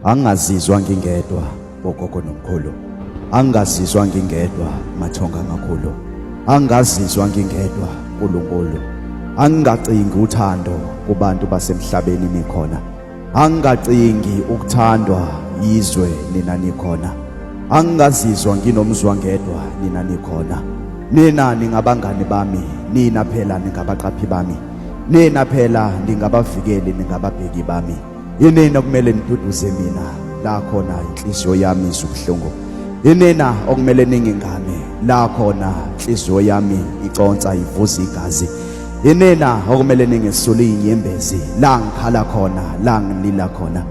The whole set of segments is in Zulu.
Angazizwa ngingedwa bogogo nomkhulu. Angazizwa ngingedwa mathonga makhulu. Angazizwa ngingedwa uNkulunkulu. Angacingi uthando kubantu basemhlabeni nikhona. Angacingi ukuthandwa yizwe nina nikhona. Angazizwa nginomzwangedwa nina nikhona. Nina ningabangani bami, nina phela ningabaqaphi bami. Nina phela ningabavikeli ningababheki bami. Yinina okumele niduduze mina la khona inhliziyo yami izubuhlungu. Yinina okumele ningingane la khona inhliziyo yami iconsa ivuza igazi. Yinina okumele ningesuli inyembezi la ngikhala khona la ngilila khona.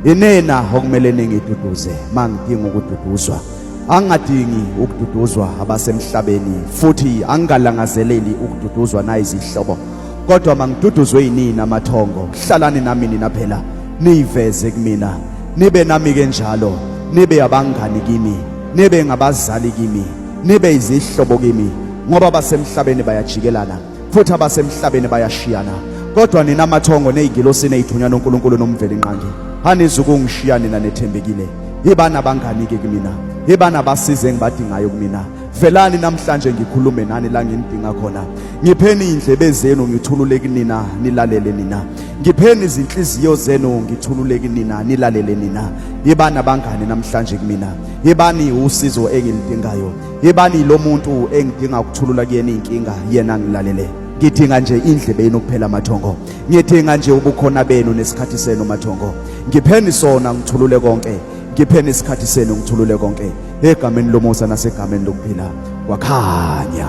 Yinina okumele ningiduduze mangidinga ukududuzwa. angadingi ukududuzwa abasemhlabeni futhi angalangazeleli ukududuzwa nayizihlobo kodwa mangiduduzwe yinini amathongo hlalani nami nina phela niyiveze kumina nibe nami ke njalo nibe abangani kimi nibe ngabazali kimi nibe izihlobo kimi ngoba basemhlabeni bayajikelana futhi abasemhlabeni bayashiyana kodwa nina mathongo nezingilosi nezithunywa noNkulunkulu nomveli inqangi hanizi ukungishiya nina nethembekile yibani abangani ke kumina yibani abasize engibadingayo kumina velani namhlanje ngikhulume nani la ngimdinga khona ngipheni indlebe zenu ngithulule kunina nilalele nina ngipheni izinhliziyo zenu ngithulule kunina nilalele nina yibani abangani namhlanje kumina yibani usizo engilidingayo Yebani lo muntu engidinga ukuthulula kuyena inkinga yena ngilalele. Ngidinga nje indlebe yenu kuphela mathongo. Ngidinga nje ubukhona benu nesikhathi senu mathongo. Ngipheni sona ngithulule konke. Ngipheni isikhathi senu ngithulule konke. Egameni lomusa nasegameni lokuphila kwakhanya.